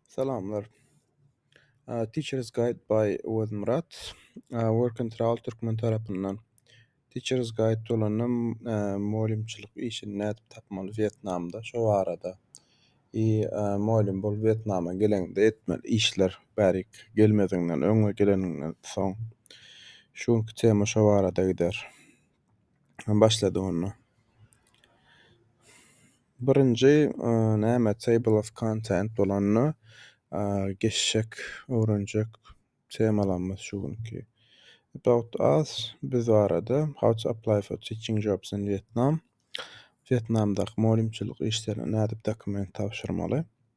Salamlar. Teachers Guide by Wezmyrat. Workentral Türkmen tarapyndan. Teachers Guide dolanym mugallymçylyk işini nädip tapmaly Wýetnamda şo barada. I mugallym bolup Wýetnama geleňde etmeli işler bärik gelmeziňden öň we geleniňden soň. Şu günki tema şo barada gider. Başlady onda. Birinji näme table of content bolanda geçjek, öwrenjek temalarymyz şu günki. About us biz barada how to apply for teaching jobs in Vietnam. Vietnamdaky mugallymçylyk işlerine nädip dokument tabşyrmaly?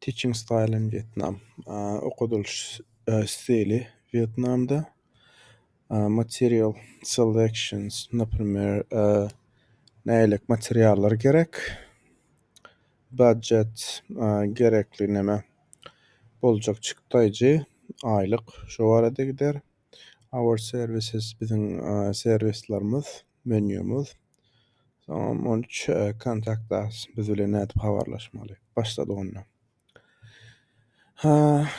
Teaching style in Vietnam, Okadylyş stili Wýetnamda, Material selections, Naprimer, nälik materiallar gerek, Budget, gerekli näme, boljak çykdaýjy, aýlyk, şo barada gider. Our services biziň serwislerimiz, menýumyz. Soňam on üç Contact us biz bilen nädip habarlaşmaly. Başladyk onda.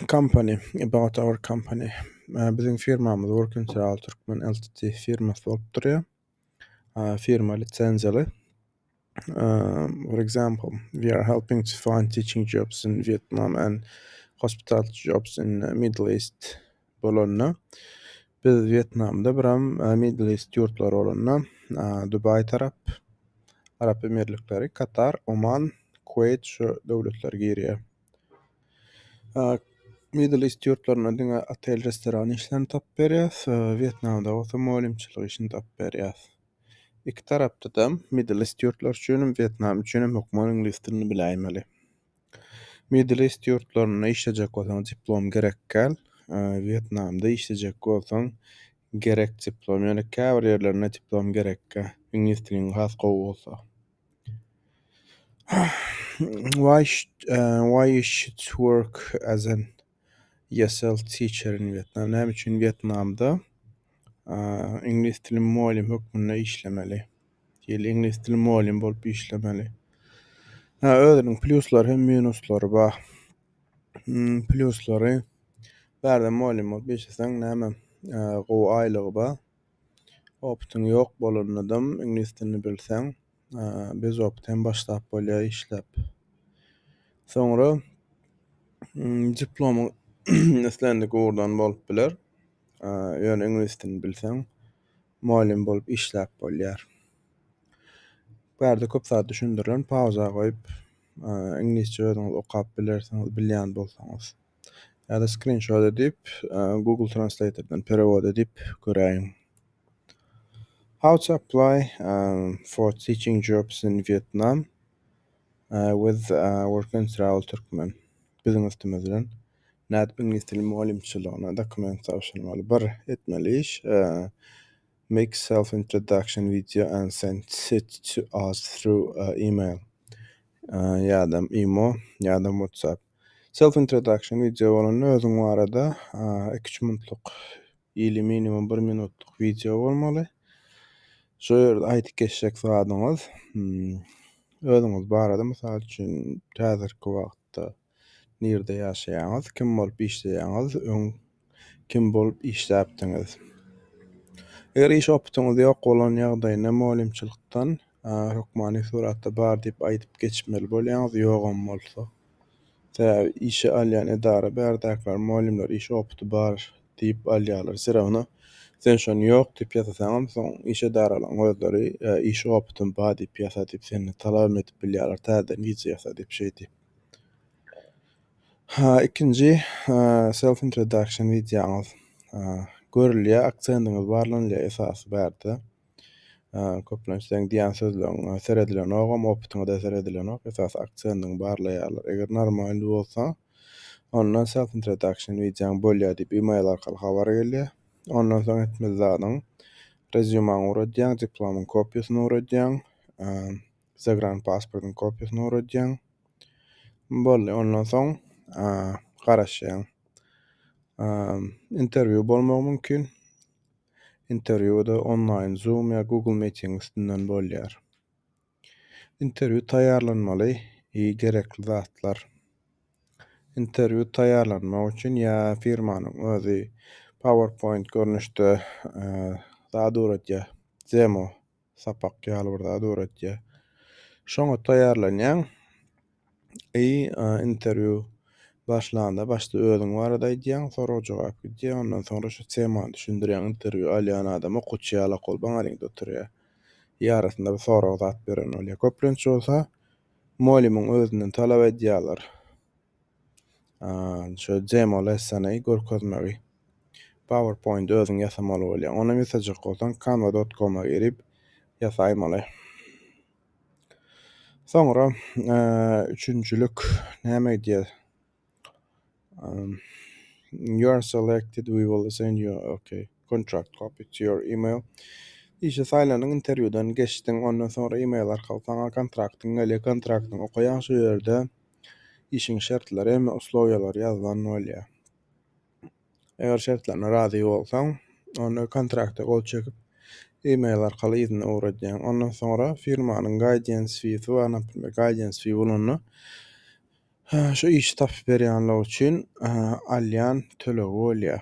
Company, about our company. Biziň firmamyz Work in Sarawak Türkmen Ltd firmasy bolup durýar. firma lisenziýaly. For example, we are helping to find teaching jobs in Vietnam and hospital jobs in Middle East bolanda biz Vietnamda biram Middle East ýurtlary bolanda Dubai tarap Arap Emirlikleri, Katar, Oman, Kuwait şu döwletler girýär. Middle East ýurtlarynda diňe otel restoran işlerini tapyp berýäs. Wýetnamda bolsa mugallymçylyk işini tapyp berýäs. Iki tarapdadam Middle East ýurtlary üçin hem Wýetnam üçin hem hökman iňlis dilini biläýmeli. Middle East ýurtlarynda işlejek bolsaň diplom gerek gel. Wýetnamda işlejek bolsaň gerek diplom. Ýöne käbir ýerlerinde diplom gerek gel. Iňlis diliň has gowy bolsa. why why you should work as an ESL teacher in Vietnam? Näme üçin Wýetnamda iňlis dili mugallym hökmünde işlemeli? Ýa iňlis dili mugallym bolup işlemeli? Hä, özüniň plýuslary hem minuslar bar. Plýuslary, bärde mugallym bolup işleseň näme, gowy aýlygy bar. Opytyň ýok bolanydam iňlis dilini bilseň bez opyt hem başlap bolýar işläp. Soňra diplomyň islendik ugurdan bolup biler. Ýöne iňlis dilini bilseň mugallym bolup işläp bolýar. Bärde köp zat düşündirilen pauza goýup iňlisçe özüňiz okap bilersiňiz bilýän bolsaňyz. Ýa-da skrinşot edip, Google Translatordan perewod edip göräýiň. How to apply for teaching jobs in Vietnam with work and travel Türkmen. Biziň üstümiz bilen nädip iňlis dili mugallymçylygyna dokument tabşyrmaly? Bir etmeli iş, make self introduction video and send it to us through email. Ýa-da imo, ýa-da WhatsApp. Self introduction wideo bolanda özüň barada iki üç minutlyk ili minimum bir minutlyk wideo bolmaly. Şu ýerde aýdyp geçjek zadyňyz hmm, özüňiz barada mysal üçin häzirki wagtda nirde ýaşaýaňyz, kim bolup işleýäňiz, öň Kim bolup işläpdiňiz? Eger iş opytyňyz ýok bolan ýagdaýynda mugallymçylykdan hökmany suratda bar diýip aýdyp geçmeli bolýaňyz, ýogam bolsa. Sebäbi işe alýan edara bärdäkiler mugallymlar iş opyty bar diýip alýarlar. Serebana sen şony ýok diýip ýasasaňam soň iş edaralaryň özleri iş opytym bar diýip ýasa diýip senden talabam edip bilýärler täzeden wiza ýasa diýip şeýdip. Ha ikinji self introduction wideoňyz görülýär aksendiňiz barlanylýar esasy bärde köplenç seň diýen sözleriň seredilenogam opytyňyzda seredilenok esasy aksendiňi barlaýarlar eger normalny bolsa onda self introduction wideoň bolýar diýip email arkaly habar gelýär ondan soň etmeli zadyň rezyumaňy ugradýaň diplomyň kopiýasyny ugradýaň Zagranpasportyň kopiýasyny guradyýaň. Boldy, ondan soň garaşýaň. Interwýu bolmagy mümkin. Interwýu-da onlaýn Zoom ýa Google Meeting üstünden bolýar. Interwýu taýýarlanmaly gerekli zatlar. Interwýu taýýarlanmak üçin ýa firmanyň özi PowerPoint görnüşde zat guradýar, demo. sapak ýaly bir zat öwretýär. Şoňa taýýarlanýaň. I interwýu başlanda başda özüň barada aýdýaň, sorag-jogap gidýär, ondan soňra şu temany düşündirýäň, interwýu alýan adam okuwçy ýaly okul baň alýňda oturýar. I arasynda bir sorag zat beren bolýar. Köplenç bolsa mugallymyň özünden talap edýärler. Şu demo lessony görkezmegi. PowerPoint özüň ýasamaly bolýar. Ony ýasajak bolsaň canva.com-a girip ýasaýmaly. Soňra üçünjilik näme diýýär? You are selected, we will send you okay. Contract copy to your email. Işe saýlandyň, interwýudan geçdiň, ondan soňra email arkaly saňa kontraktyň gelýär, kontraktyňy okaýaň şu ýerde. işiň şertleri hem uslowiýalary ýazylan bolýar. Eger şertlerine razy bolsaň, onda kontrakta gol çekip, e-mail arkaly yzyna ugradýaň. Ondan soňra firmanyň guidance feesi bar, naprimýr, guidance fee bolanda şu işi tapyp berýänler üçin alýan tölegi bolýar.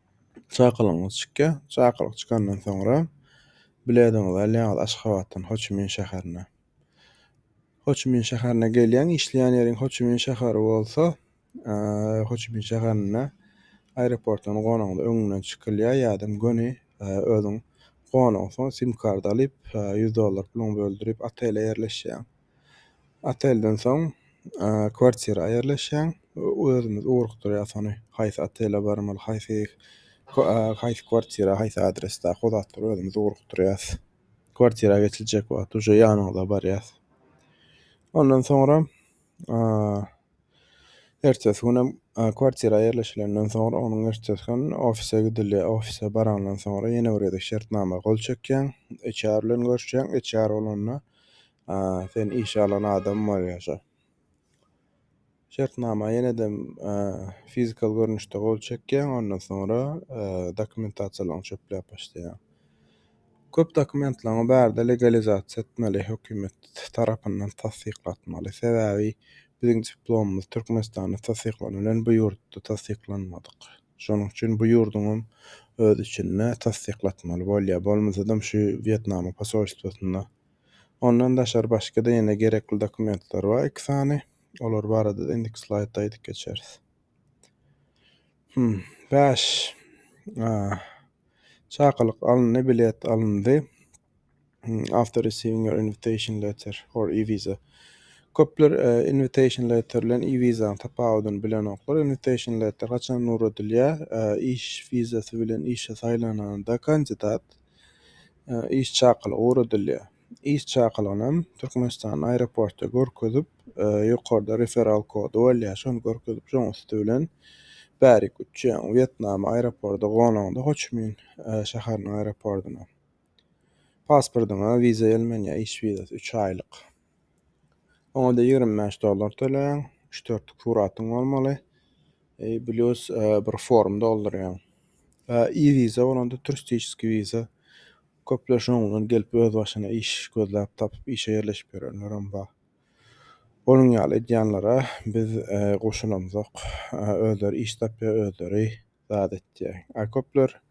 Çakylygyňyz çykýar. Çakylyk çykandan soňra bilediňizi alýaňyz Aşgabatdan Hoçimin şäherine. Hoçimin şäherine gelýäň, işleýän ýeriň Hoçimin şäheri bolsa, eee, Hoçimin şäherinde aeroportdan gonagyňyz öňünden çykylýar, ýa-da göni eee, özüň gonansoň sim-kart alyp, eee, ýüz dollar puluňy böldürip, otele ýerleşýäň. Otelden soň kwartira aýerleşýäň. Özümiz ugrukdyrýas ony. Haýsy otele barmaly, haýsy haýsy kwartira, haýsy adres daky o zatlary özümiz ugrukdyrýas. Kwartira geçiljek wagt uje ýanyňyza barýas. Ondan soňra Ertesi günem kwartira ýerleşilenden soňra onuň ertesi gün ofise gidilýär. Ofise barandan soňra ýene bir gezek şertnama gol çekýäň. HR bilen görüşýäň. HR bolanda sen işe alan adam bolýar şo. Şertnama ýene-de fizikal görnüşde gol çekýäň, ondan soňra dokumentasiýalaryňy çöpläp başlaýaň. Köp dokumentlaňy barda legalizasiýa etmeli hökimet tarapyndan tassyklatmaly sebäbi biziň diplomymyz Türkmenistanda tassyklanylan bu ýurtda tassyklanmadyk şonuň üçin bu ýurduňam öz içinde tassyklatmaly bolýa bolmasadam şu Wýetnamyň posolstwasynda ondan daşary başgada ýene gerekli dokumentler bar iki sany olar barada indiki slaýdda aýdyp geçeris. Hum. Bäş. Aah. Çakylyk alyndy, bilet alyndy. After receiving your invitation letter or e-visa. Köpler invitation letter bilen e-visa-nyň tapawudyny bilenoklar. Invitation letter haçan ugradylýar? Iş wizasy bilen işe saýlananda kandidat iş çakylygy ugradylýar. iş çakylygyny hem Türkmenistan aeroportda görkezip, ýokarda referal kody bolýar, şony görkezip, şoň üsti bilen bärik uçýaň Wýetnama aeroporda gonaňda Hoçmin şäheriniň aeropordyna. Pasportyňa wiza ýelmenýär, iş wizasy, üç aýlyk. Oňa-da ýigrimi bäş dollar töleýäň, üç-dört suratyň bolmaly, plus bir form doldurýaň. E-wiza bolanda turistiçeskiý wiza Köpler şunuň bilen gelip özbaşyna iş gözläp tapyp işe ýerleşip ýörenlerem bar. Onuň ýaly edýänlere biz goşulamzok. Özleri iş tapýar, özleri zat etýär. A köpler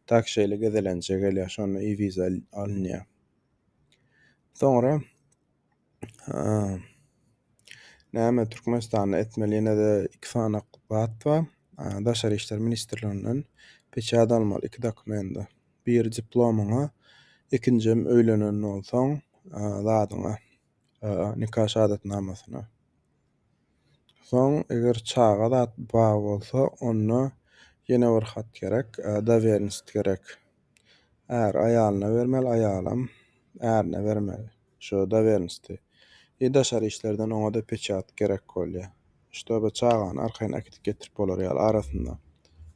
tak şeýle gezelenje gelýär, şonda i-wiza alynýar. Soňra Näme Türkmenistanda etmeli ýene-de iki sany zat bar. Daşary işler ministrliginden peçat almaly iki dokumenta. Biri diplomyňa, ikinjem öýlenen bolsaň zadyňa, nika şahadatnamasyna. Soň eger çaga zat bar bolsa onda ýene bir hat gerek, dowernist gerek. Är aýalyna bermeli, aýalam ärine bermeli şu dowernisti. I daşary işlerden oňada peçat gerek bolýa. Ştoby çagany arkaýyn äkidip getirip bolar ýaly arasynda.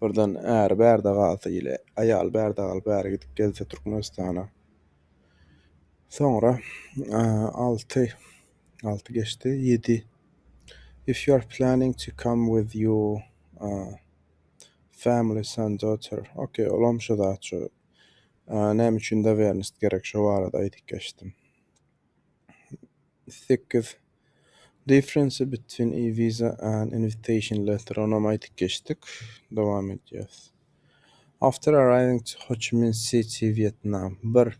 Birden äri bärde galsa ile aýaly bärde galyp äri gidip gelse Türkmenistana. Soňra alty. Alty geçdi. Ýedi. If you are planning to come with your uh, family, son, daughter. Okay, olam şu zat şu. Uh, näme üçin dovernost gerek şu barada aýdyp geçdim. Sekiz. Difference between a visa and invitation letter. Onam aýdyp geçdik. Dowam edýäs. After arriving to Ho Chi Minh City, Vietnam. Bir.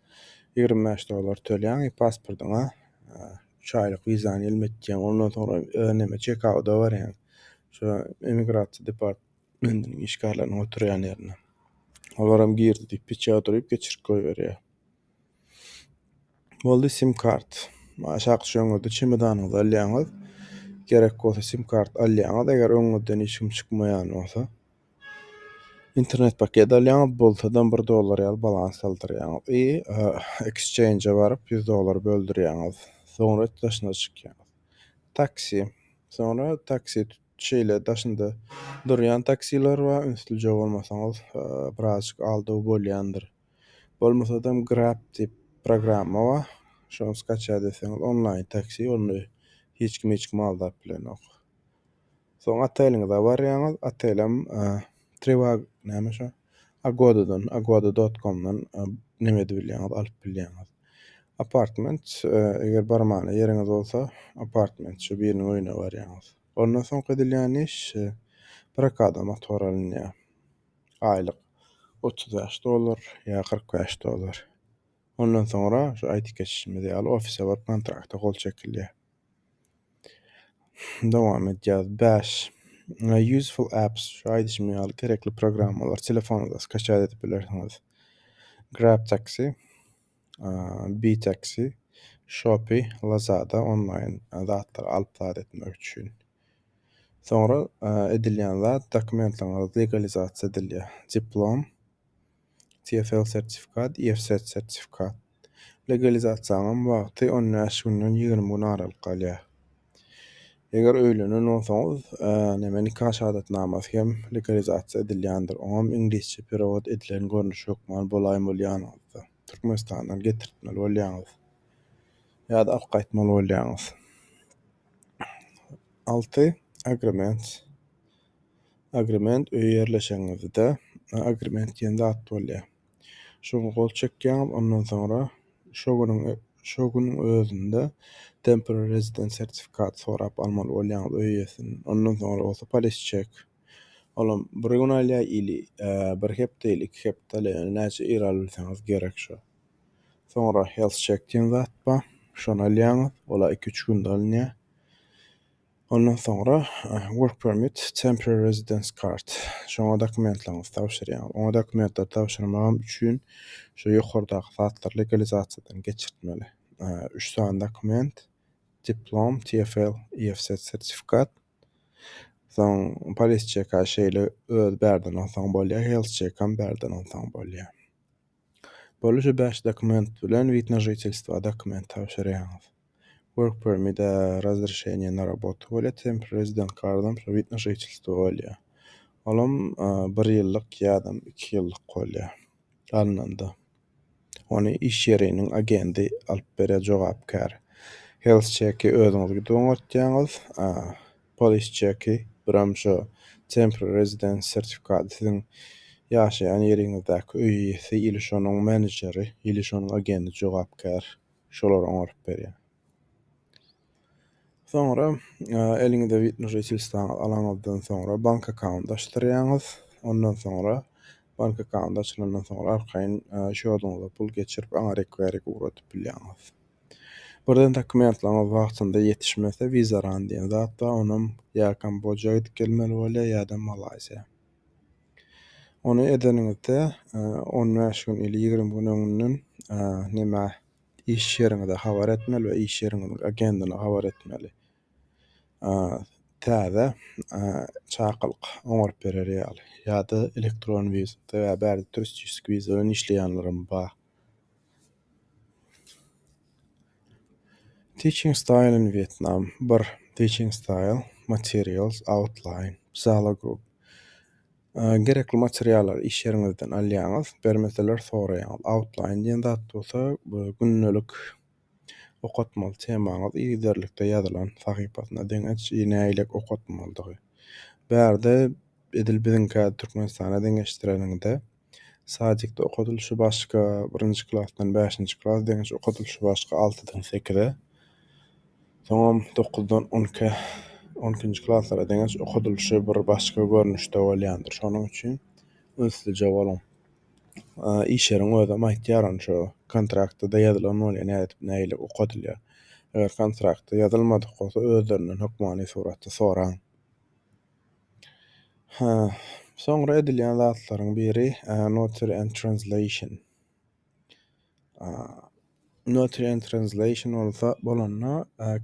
Ýigrimi bäş dollar tölýäň i pasportyňa üç aýlyk wizany ýelme etýäň. Ondan soňra öz näme çekauda barýaň. Şo emigrasiýa departmentiniň işgärleriniň oturýan ýerine. Olaram girdi diýip peçat urup geçirip goýberýär. Boldy sim kart. Aşak düşeňizde çemodanyňyzy alýaňyz. Gerek bolsa sim kart alýaňyz. Eger öňüňizden hiç kim çykmaýan bolsa, Internet paket alýaňyz, bolsadan bir dollar ýaly balans saldyrýaňyz i ekscheinje baryp ýüz dollar böldürýäňiz. Soňra daşyna çykýaňyz. Taksi. Soňra taksi şeýle daşynda durýan taksiler bar, ünslüje bolmasaňyz birazjyk aldaw bolýandyr. Bolmasadam Grab diýip programma bar, şony skaçýa deseňiz onlaýn taksi, onda hiç kim hiç kimi aldap bilenok. Soň oteliňize barýaňyz, otelem Trivago näme şu Agoda-dan, Agoda dot komdan neme edip bilýäňiz, alyp bilýäňiz. Apartment, eger barmana ýeriňiz bolsa, apartment şu biriniň öýüne barýaňyz. Ondan soňky edilýän iş, prokada motor alynýar. Aýlyk otuz bäş dollar ýa kyrk bäş dollar. Ondan soňra şu aýdyp geçişimiz ýaly ofise baryp kontrakta gol çekilýär. Dowam edýäs. Bäş. Useful apps. Şu aýdyşym ýaly gerekli programmalar telefonuňyza skaçat edip bilersiňiz. Grab taksi, B taksi, Shopee, Lazada onlaýn zatlary alyp zat etmek üçin. Soňra edilýän zat dokumentlaryňyz legalizasiýa edilýär. Diplom. TFL sertifikat, IFSS sertifikat. Legalizasiýanyň wagty on bäş günden ýigrimi gün aralyk galýar. Eger öýlenen bolsaňyz, näme nika şahadatnamasy hem legalizasiýa edilýändir. Oňam iňlisçe perewod edilen görnüşi hökman bolaýyn bolýanyňyzda. Türkmenistandan getirtmeli bolýaňyz. Ýa-da alyp gaýtmaly bolýaňyz. Alty, agrement. Agrement öýe ýerleşeniňizde agrement diýen zat bolýar. Şoňa gol çekýäňiz, ondan soňra şo günüň şo günüň özünde temporary resident sertifikat sorap almaly bolýaňyz öý eýesinden. Ondan soňra bolsa polis çek. Olam bir gün alýar ili bir hepde ili iki hepde alýar. Yani näçe ir albilseňiz gerek şo. Soňra health check diýen zat bar. Şony alýaňyz. Ola 2-3 günde alynýar. Ondan soňra work permit, temporary residence card, şoňa dokumentlerňizi tabşyrýaňyz. Oňa dokumentleri tabşyrmagam üçin şu ýokardaky zatlary legalizasiýadan geçirtmeli. Üç sany dokument, diplom, TFL, EFZ sertifikat. Soň polis çeka şeýle öz bärden alsaň bolýar, health çekam bärden alsaň bolýar. Boluşy bäş dokument bilen wid na žitelstwa dokument tabşyrýaňyz. Work permit, e, razrešeniýe na robotu bolýar, temporary resident kardam şo wid na žitelstwa bolýar. Olam, e, bir ýyllyk ýadam iki ýyllyk bolýar alnanda. Ony iş ýeriniň agendi alyp berýär, jogapkär. Health check-i özüňiz gidip oňartýaňyz. A, polis çeki, Bramsho Temporary Residence sertifikady siziň ýaşaýan ýeriňizdäki öý eýesi ili şonuň menejeri ili şonuň agenti jogapkär şolar oňaryp berýär. Soňra eliňize wid na žitelstwaňyzy alaňyzdan soňra bank akkaunt açdyrýaňyz. Ondan soňra bank akkaunt açylandan soňra arkaýyn şýoduňyza pul geçirip aňa rekwerik ugradyp bilýäňiz. Birden dokumentlaryňyz wagtynda ýetişmese wizaran diýen zat bar, onam ýa Kamboja gidip gelmeli bolýar ýa-da Malaýziýa. Ony edeniňizde on bäş gün ýa-da ýigrimi gün öňünden näme iş ýeriňize habar etmeli we iş ýeriňiziň agendigine habar etmeli. Täze çakylyk oňaryp berer ýaly ýa-da elektron wiza, sebäbi bärde turistişik wiza bilen işleýänlerem bar. Teaching style in Vietnam bir Teaching style materials outline Zala group Gerekli materiallary iş ýeriňizden alýaňyz, bermeseler soraýaňyz. Outline diýen zat bolsa gündelik Okatmaly temaňyz yzygiderlikde ýazylan sahypasyna deň aç i nägilek okatmalydygy. Bärde edil biziňkä Türkmenistana deňeşdireniňde sadikde okadylyşy başga birinji klasdan bäşinji klas deňiş okadylyşy başga altydan sekize soňam dokuzdan on ikä on ikinji klaslara deňeş okadylyşy bir başga görnüşde bolýandyr şonuň üçin ünslice boluň. işleriň özem aýtýar ony şo kontraktda-da ýazylan bolýar nädip nähili okadylýar. Eger kontraktda ýazylmadyk bolsa özlerinden hökmany suratda soraň. Hä, soňra edilýän zatlaryň biri, notary and translation. Nutrient Translation bolsa bolanda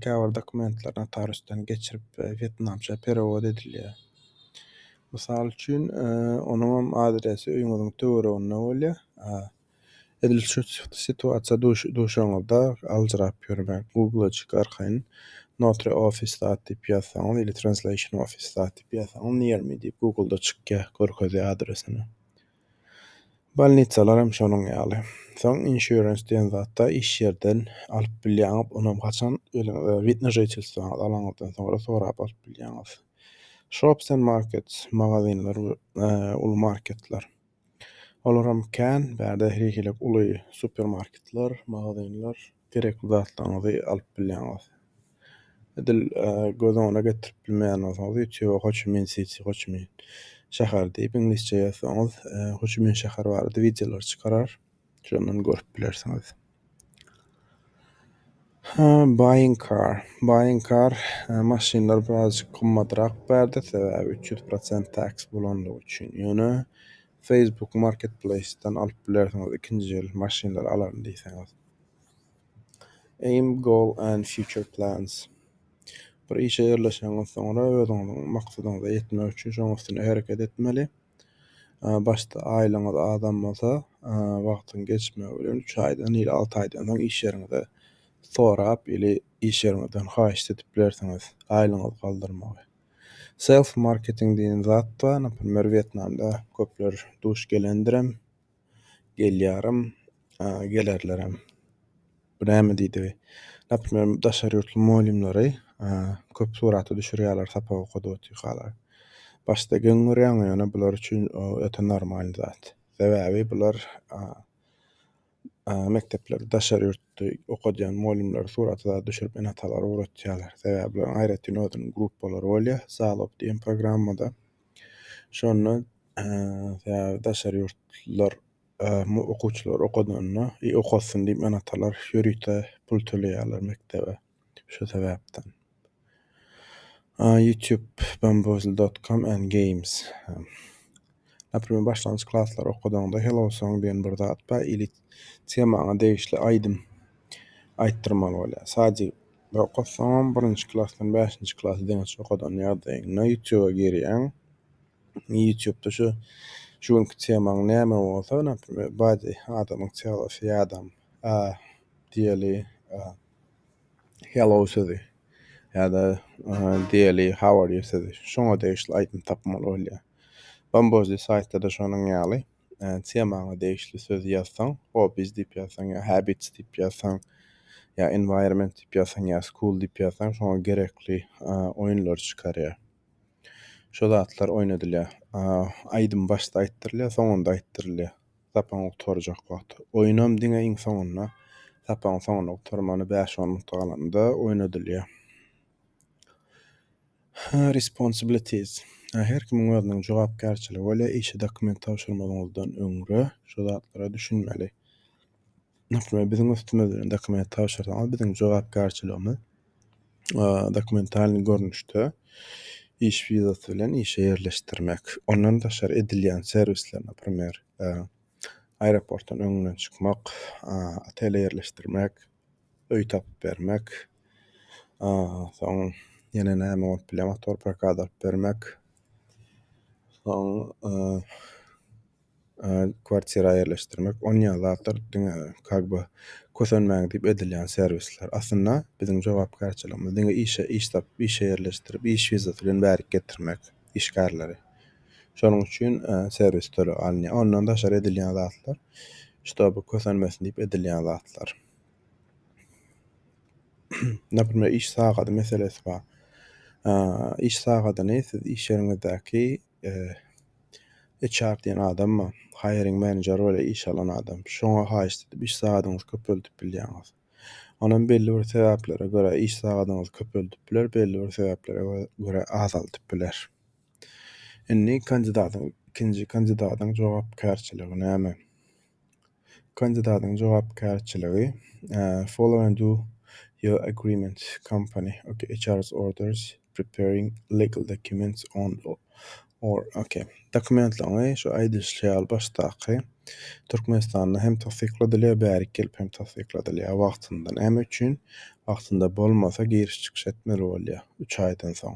käbir dokumentler notariusdan geçirip wýetnamça perewod edilýär. Mysal üçin, onuňam adresi öýüňiziň töwereginde bolýar. Edil şu situasiýa duşanyňyzda aljyrap ýörmän Google-a çykyp arkaýyn Notary Office dat diýip ýazsaňyz ili Translation Office dat diýip ýazsaňyz Near me diýip Google-da çykýar, görkezýär adresini. Bolnitsalar hem şonuň ýaly. Soň insurance diýen zatda iş ýerden alyp bilýäňiz, onam haçan özüňize wid na žительstwaňyzy alaňyzdan soňra sorap alyp bilýäňiz. Shops and markets, magazinler we uly marketler. Olar hem kän, bärde her hili uly supermarketler, magazinler, gerekli zatlaryňyzy alyp bilýäňiz. Edil göz öňüne getirip bilmeýän bolsaňyz ýutube Ho Çi Min Siti, Ho Çi Min şäheri diýip iňlisçe ýazsaňyz Ho Çi Min şäheri barada wideolar çykarar. Şondan görüp bilersiňiz. Ha, buying car. Buying car maşynlar birazjyk gymmatrak bärde sebäbi üç ýüz prosent tax bolandygy üçin. Ýöne Facebook Marketplace-den alyp bilersiňiz ikinji ýyl maşynlary alaryn diýseňiz. Aim, Goal and Future Plans Bir işe ýerleşeňiz soňra özüňiziň maksadyňyza ýetmek üçin şoň üstüne hereket etmeli. Başda aýlygyňyz azam bolsa, wagtyň geçmegi bilen üç aýdan ýa alty aýdan soň iş ýeriňize sorap, ili iş ýeriňizden haýyşt edip bilersiňiz aýlygyňyzy galdyrmagy. Self marketing diýen zat bar, naprimýer Wýetnamda köpler duş gelendirem, gelýärem, gelerlerem. Bu näme diýdi? Naprimýer, daşary ýurtly mugallymlary köp surata düşürýärler sapak okadyp otyrkalar. Başda geň görýäňok, ýöne bular üçin öte normal zat. Sebäbi bular. mekdeplerde daşary ýurtda okadýan mugallymlary surata düşürip ene-atalara ugratýarlar. Sebäbi bularyň aýratyn özüniň gruppalary bolýar. Zalob diýen programmada. Şonda sebäbi daşary ýurtlular okuwçylar okadanda, okasyn diýip ene-atalar ýörite pul töleýärler mekdebe. Şu sebäpden. Youtube Bamboozle dot com and games Naprimr başlangyç klaslary okadaňda Hello Song diýen bir zat bar ili temaňa degişli aýdym aýtdyrmaly bolýar. Sadyk bir okatsaňam birinji klasdan bäşinji klasy deňiç okadan ýagdaýyňda youtube girýäň. Youtubeda şu şu günki temaň näme bolsa naprimr bady adamyň teolosy ýadam diýeli Hello sözi ýa-da Daily how are you sözi şoňa degişli aýdym tapmaly bolýar. Bambozli saýtda-da şonuň ýaly temaňa degişli sözi ýazsaň, hobbies diýip ýazsaň ýa habits diýip ýazsaň ýa environment diýip ýazsaň ýa school diýip ýazsaň şoňa gerekli oýunlary çykarýar. Şo zatlar oýnadylýar. Aýdym başda aýtdyrylýar, soňunda aýtdyrylýar. sapagyň gutarjak wagty. Oýnam diňe iň soňunda, sapagyň soňunda gutarmana bäş-on minut galanda oýnadylýar. Responsibilities. Her kimiň özüniň jogapkärçiligi bolýar. Işe dokument tabşyrmazyňyzdan öňre şu zatlara düşünmeli. Höküme biziň üstümiz bilen dokument tabşyrsaňyz, biziň jogapkärçiligimiz dokumentalnyý görnüşde iş wizasy bilen işe ýerleşdirmek. Ondan daşary edilýän serwisler, naprimer, aeroportdan öňünden çykmak, otele ýerleşdirmek, öý tapyp bermek, soň ýene näme bolup bilýär, motor prokata alyp bermek, soň. kwartira ýerleşdirmek on ýaly zatlar diňe kag be kösenmäň diýip edilýän serwisler. Aslynda biziň jogapkärçiligimiz diňe işe iş tap işe ýerleşdirip iş wizasy bilen bärik getirmek işgärleri. Şonuň üçin serwis töleg alynýar. Ondan daşary edilýän zatlar ştoby kösenmesin diýip edilýän zatlar. Naprimýr iş sagady meselesi bar. Iş sagadyny siz iş ýeriňizdäki HR diýen adamma hiring manager weli iş alan adam şoňa haýyşt edip iş sagadyňyzy köpeldip bilýäňiz. Onam belli bir sebäplere görä iş sagadyňyzy köpeldip biler, belli bir sebäplere görä azaldyp biler. Indi kandidatyň ikinji kandidatyň jogapkärçiligi näme? Kandidatyň jogapkärçiligi Follow and do your agreement company HR's orders preparing legal documents on or ok dokumentlerini şu aýdylyşy ýaly başdaky Türkmenistanda hem tassykladylýar bärik gelip hem tassykladylýar wagtynda näme üçin wagtynda bolmasa giriş çykyş etmeli bolýar üç aýdan soň.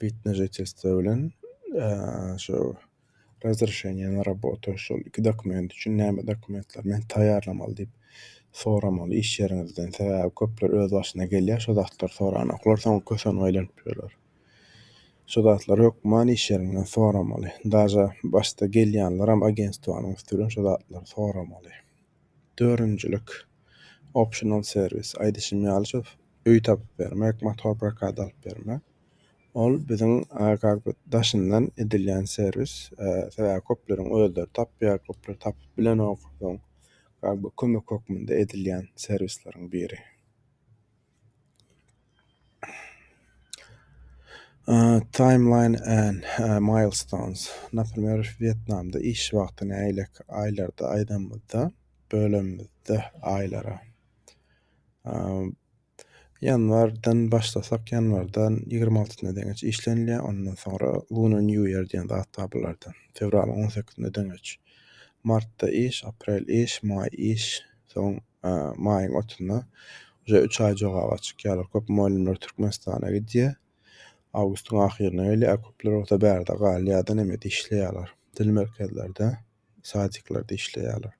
Bitnejä testler bilen şu razrešeniýe na rabotu şol iki dokument üçin näme dokumentler men taýýarlamaly diýip soramaly iş ýeriňizden. Sebäbi köpler öz başyna gelýär şu zatlary soranoklar soň kösenip aýlanyp ýörler. Şu zatlary hökman iş ýeriňden soramaly. Daže başda gelýänleram agentstwanyň üsti bilen şu zatlary soramaly. Dördünjilik, optional service, aýdyşym ýaly şu öý tapyp bermek, motor prokata alyp bermek. Ol biziň kak bir daşyndan edilýän serwis. Sebäbi köpleriň özleri tapýar, köpler tapyp bilenok. Soň kak bir kömek hökmünde edilýän serwisleriň biri. Timeline and milestones, Naprýer, Wýetnamda iş wagty nägileki aýlarda aýdanymyzda, bölenimizde aýlara. Ýanwardan başlasak, ýanwardan ýigrimi altysyna deňeç işlenilýär, ondan soňra Lunar New Year diýen zat bar bularda. Fewralyň on sekizine deňeç. Martda iş, aprel iş, maý iş, soň. maýyň otuna uje üç aý jogaba çykýarlar. Köp mugallymlar Türkmenistana gidýär. Awgustyň ahyryna gelýär. Köpler bolsa bärde galýardan hem işleýärler. Dil merkezlerde, sadiklerde işleýärler.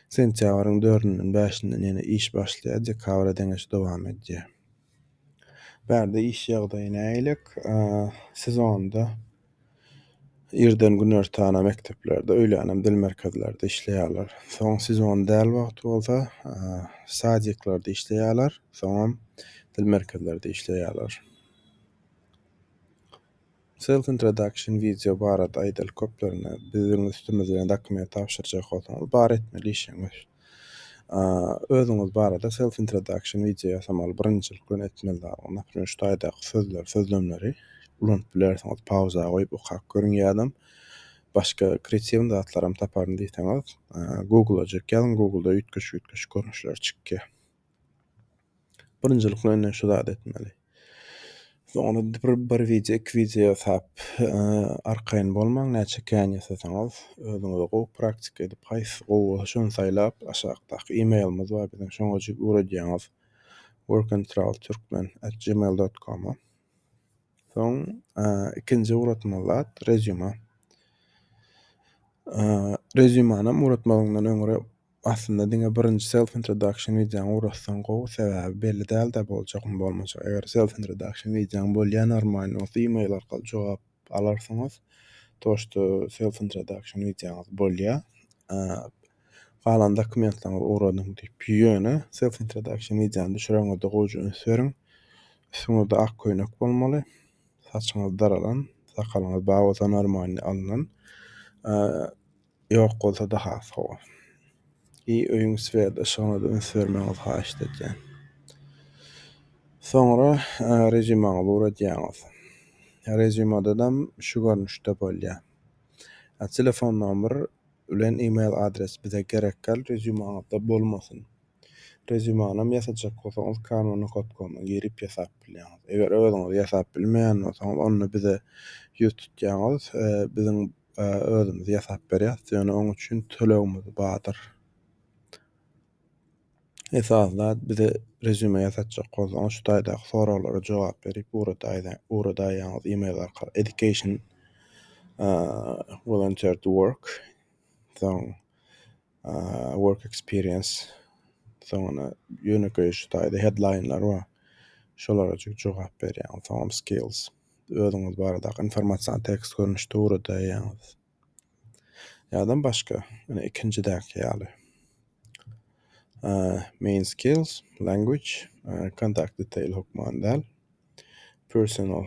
Sentýabryň dördünden bäşinden ýene iş başlaýar, dekabra deňeç dowam edýär. Bärde iş ýagdaýy nägilek? Siz onda irden günortana mekdeplerde, öýlänem dil merkezlerde işleýärler. Soň sezon däl wagty bolsa, sadiklarda işleýärler, soňam dil merkezlerde işleýärler. Self introduction video barada aýdaly köplerine biziň üstümiz bilen dokument tabşyrjak bolsaňyz bar etmeli işiňiz. Özüňiz barada self introduction video ýasamaly birinjilik bilen etmeli zalňyz. Naprimýr şu taýdaky sözleri, sözlemleri ulanyp bilersiňiz. Pauza goýup okap görüň ýadam başga kreatiwny zatlaram taparyn diýseňiz Google-a jek ýazyň Google-da üýtgeşik üýtgeşik görnüşleri çykýar. Birinjilik bilen şu zady etmeli. Soňra bir, bir wideo, iki wideo ýasap, arkaýyn bolmaň, näçe kän ýasasaňyz, özüňize gowy praktika edip, haýsy gowy bolsa şony saýlap, aşakdaky e-mailimiz bar biziň, şoňa ugradýaňyz, workandtravelturkmen@gmail.com-a. Soň, ikinji ugratmaly zat, rezýuma. Rezýumanam ugratmazdan öňräk. Aslynda diňe birinji self introduction wideoňy gurassaň gowy sebäbi belli dälda boljagmy bolmajak eger self introduction wideoň bolýa normalny bolsa email arkaly jogap alarsyňyz toşda self introduction wideoňyz bolýa galan dokumentlaryňyzy ugradyň diýip ýöne self introduction wideony düşüreňizde gowja üns beriň üstüňizde ak köýnek bolmaly saçyňyz daralan sakalyňyz bag bolsa normalny alnan Ýok bolsada has gowy. I öýüň swer yşygyna-da üns bermegiňizi haýyşt edýän. Soňra reziumaňyzy uradýaňyz. Reziumadadam şu görnüşde bolýar. Telefon nomer bilen email adres bize gerekgäl reziumaňyzda bolmasyn. Reziumanam ýasajak bolsaňyz canva nokot com-a girip ýasap bilýäňiz. Eger özüňiz ýasap bilmeýän bolsaňyz onda bize ýüz tutýaňyz. Biziň özümiz ýasap berýäs, ýöne oň üçin tölegimiz bardyr. Esasy zat bize rezýume ýasatjak bolsaňyz şu taýdaky soraglara jogap berip ugradaýýaňyz email arkaly education volunteer to work soň work experience soňuna ýönekeý şu taýda headline lar bar şolara jogap berýäňiz soňam skills. özüňiz barada informasion tekst görnüşde ugradaýýaňyz. Ýa-da başga, ýöne ikinjidäki ýaly. Main skills, language, contact detail hökman däl. Personal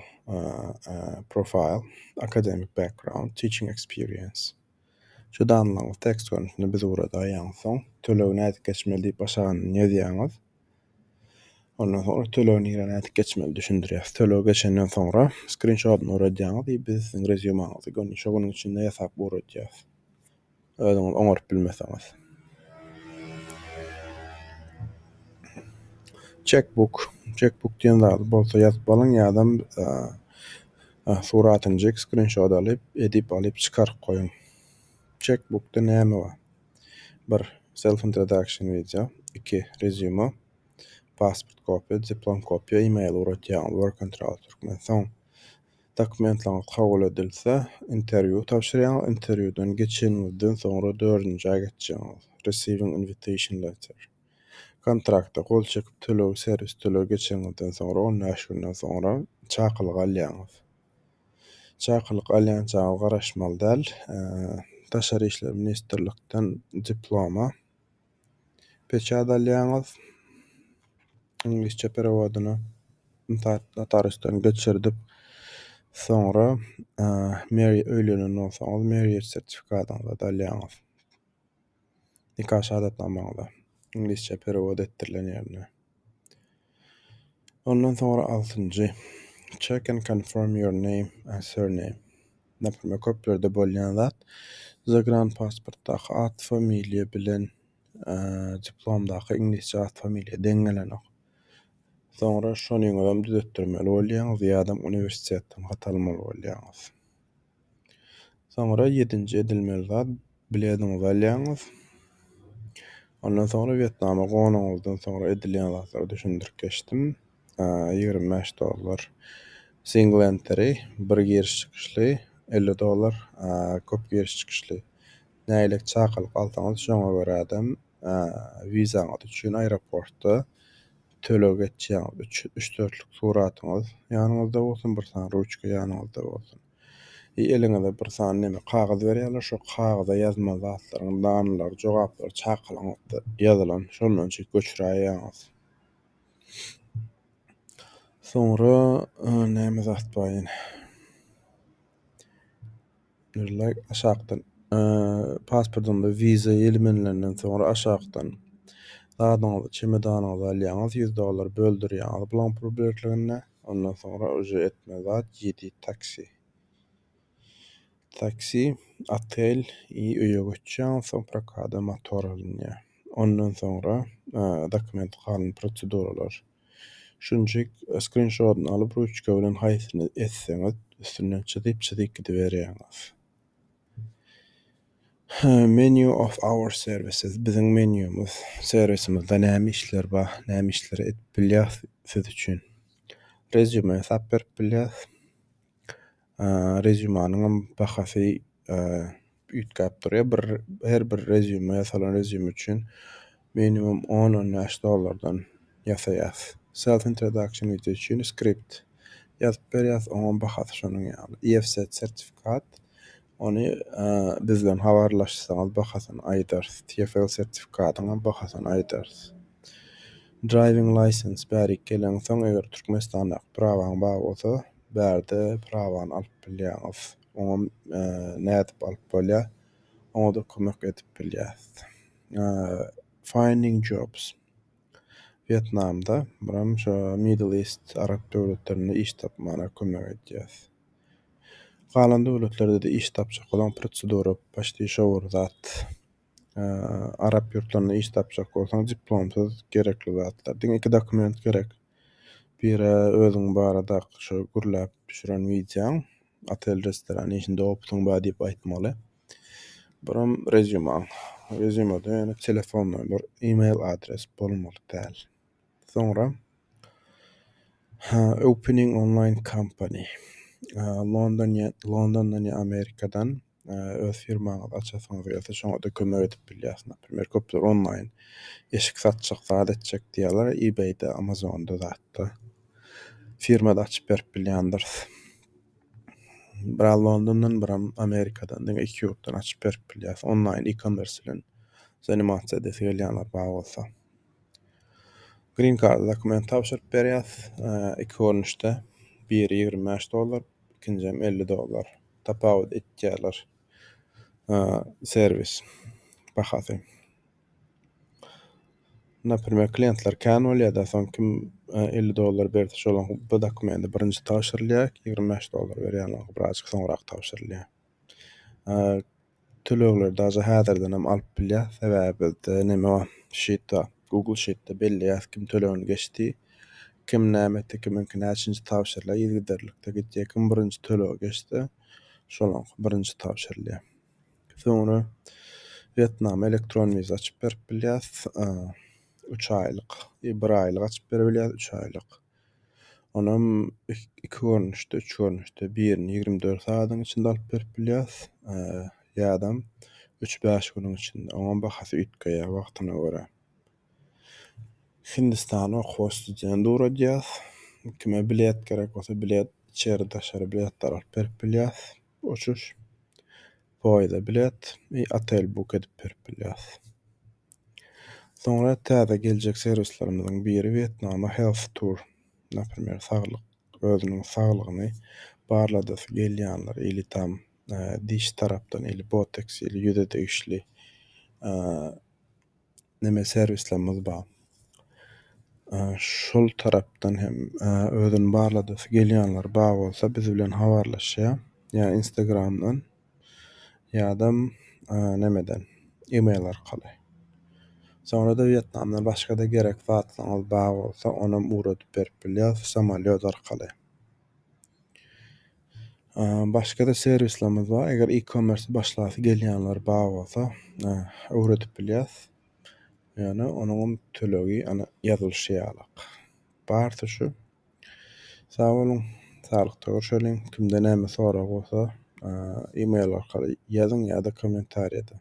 profile, academic background, teaching experience. Şu damlaňyz tekst görnüşinde biz ugra daýaňyz. Soň tölegi nädip geçmeli diýip aşagyny ýazýaňyz. Ondan soňra tölegi nirä nädip geçmeli düşündirýäs. Tölegi geçenden soňra skrinşotyny uradýaňyz we biz siziň rezýumaňyzy göni şo günüň içinde ýasap ugradýas. Özüňiz oňaryp bilmeseňiz. Çekbuk, çekbuk diýen zady bolsa ýazyp alyň ýa-da Suratyny çek skrinşot alyp edip alyp çykaryp goýuň. Çek bukda näme bar. Bir self introduction wideo iki resume pasport kopýa diplom kopýa email uratýaňyz work contract türkmen soň dokumentlaryňyz kabul edilse interwýu tabşyrýaňyz interwýudan geçeniňizden soňra dördünji aý geçjeňiz receiving invitation letter. Kontrakta gol çekip tölegi serwis tölegi geçeniňizden soňra on bäş günden soňra çakylyk alýaňyz. Çakylyk alýançaňyz garaşmaly däl. Daşary işler ministrlikden diploma peçat alýaňyz. Iňlisçe perewodyny notarysdan geçirdip soňra öýlenenden soň marriage sertifikatyňyzy alýaňyz. nika şahadatnamaňyza, iňlisçe perewod etdirilen ýerine. Ondan soňra altynjy, check and confirm your name and surname. Naprimýer, köplerde bolýan zat, zagranpasportdaky at-familiýa bilen diplomdaky iňlisçe at-familiýa deň gelenok. Soňra şonyňyzam düzetdirmeli bolýaňyz ýa-da uniwersitetden hat almaly bolýaňyz. Soňra ýedinji edilmeli zat, bilediňizi alýaňyz. Ondan soňra Wýetnama gonuňyzdan soňra edilýän zatlary düşündirip geçdim. Ýigrimi bäş dollar single entry, bir giriş çykyşly, elli dollar köp giriş çykyşly. Nägilelik çakylyk alsaňyz, şoňa görä-de wizaňyz üçin aeroportda Töleg etýäňiz üç üç dörtlük suratyňyz ýanyňyzda bolsun bir sany ruçka ýanyňyzda bolsun. I eliňize bir sany neme kagyz berýärler şo kagyza ýazma zatlaryň danylary jogaplary çakylyňyzda ýazylan şondan çek göçüräýýäňiz. Soňra näme zat bar ýene. Bir like aşakdan pasportyňda viza ýelmenlerinden soňra aşakdan zadyňyzy çemedanyňyzy alýaňyz 100 dollar böldürýäňiz bulaň purbertligine ondan soňra uje etme zat ýedi taksi taksi otel i öýe göçýäňiz soň prokada motor alynýar ondan soňra dokument galan proseduralar Şunjik skrinşotyny alyp ruçka bilen haýsyny etseňiz üstünden çyzyp çyzyp gidiberýäňiz. Menu of our services biziň menýumyz servisimizde näme işler bar näme işleri edip bilýäs siz üçin. Resume sap berip bilýäs. Rezýumanyňam bahasy üýtgäp durýar. Bir her bir rezýuma ýasalan rezýum üçin minimum on-on bäş dollardan ýasaýas. Self introduction wideo üçin skript ýazyp berýäs, oňam bahasy şonuň ýaly. EFZ sertifikat, ony biz bilen habarlaşsaňyz bahasyny aýdarys. TFL sertifikatyňam bahasyny aýdarys. Driving license bärik geleňsoň, eger Türkmenistandaky prawaň bar bolsa, bärde prawany alyp bilýäňiz. Oňam nädip alyp bolýar, oňa-da kömek edip bilýäris. Finding jobs. Wýetnamda, buram şu Middle East, arap döwletlerinde iş tapmana kömek edýäris. Galan döwletlerde-de iş tapjak boluň, prosedura, poçti şo bir zat. Arap ýurtlarynda iş tapjak bolsaň diplomsyz gerekli zatlar. Diňe iki dokument gerek. Biri özüň barada şu gürläp düşüren wideoň, otel restoran işinde opytyň bar diýip aýtmaly. Birim rezýumaň. Rezýumada ýöne telefon nomer, e-mail adres bolmaly däl. Soňra ha, opening online company. London Londondan ýa Amerikadan öz firmaňyzy açasyňyz gelse şoňa-da kömek edip bilýärsiň. Naprimýr, köpler onlaýn eşik satjak, zat etjek diýýärler, eBay-de, Amazon-da zatda. Firma-da açyp berip bilýändiris. Biraz Londondan, biram Amerikadan, diňe iki ýurtdan açyp berip bilýäris. Onlaýn e-commerce bilen zanimasiýa edesi gelýänler bar bolsa. Green Card dokument tabşyryp berýäris, iki görnüşde, biri ýigrimi bäş dollar, ikinjem elli dollar tapawut etýärler serwis bahasy naprimer kliýentler kän bolýada soň kim elli dollar berse şola bu dokumenti birinji tabşyrylýa ýigrimi bäş dollar berýäne braçka soňrak tabşyrylýa Tölegleri dagy häzirdenem alyp bilýäs. Sebäbi bizde neme bar? Sheet bar. Google Sheet-de belleýäs kim tölegini geçdi, kim näme etdi, kimiňki näçinji tabşyrylýar, yzygiderlikde gitýär. Kim birinji tölegi geçse, şonuňky birinji tabşyrylýar. Soňra Wýetnama elektron wiza açyp berip bilýäs. Üç aýlyk, bir aýlyk açyp bere bilýäs, üç aýlyk. Onam iki görnüşde, üç görnüşde, birini ýigrimi dört sagadyň içinde alyp berip bilýäs, ýa-da üç-bäş günüň içinde. Oňam bahasy üýtgeýär wagtyna görä. Hindistana okuwa student ugradýas. Kime bilet gerek bolsa, bilet içeri-daşary biletler alyp berip bilýäs. Uçuş, poýezda bilet we otel buk edip berip bilýäs. Soňra täze geljek serwislerimiziň biri Wýetnama Health Tour. Naprimer, saglyk, özüniň saglygyny barladasy gelýänler ili tam diş tarapdan, ili boteks, ili ýüze degişli neme serwislerimiz bar. Şol tarapdan hem özüni barladasy gelýänler bar bolsa biz bilen habarlaşýar. Ýa Instagramdan ýa-da nemeden email arkaly. Soňra-da Wýetnamdan başga-da gerek zatlaryňyz bar bolsa onam ugradyp berip bilýäris samolýot arkaly. Başga-da serwislerimiz bar. Eger e-commerce başlasy gelýänler bar bolsa, öwredip bilýäs. Ýöne onuňam tölegi ana ýazylyşy ýaly. Barsy şu. Sag boluň, saglykda görşeliň. Kimde näme sorag bolsa, e-mail arkaly ýazyň ýa-da kommentariýada.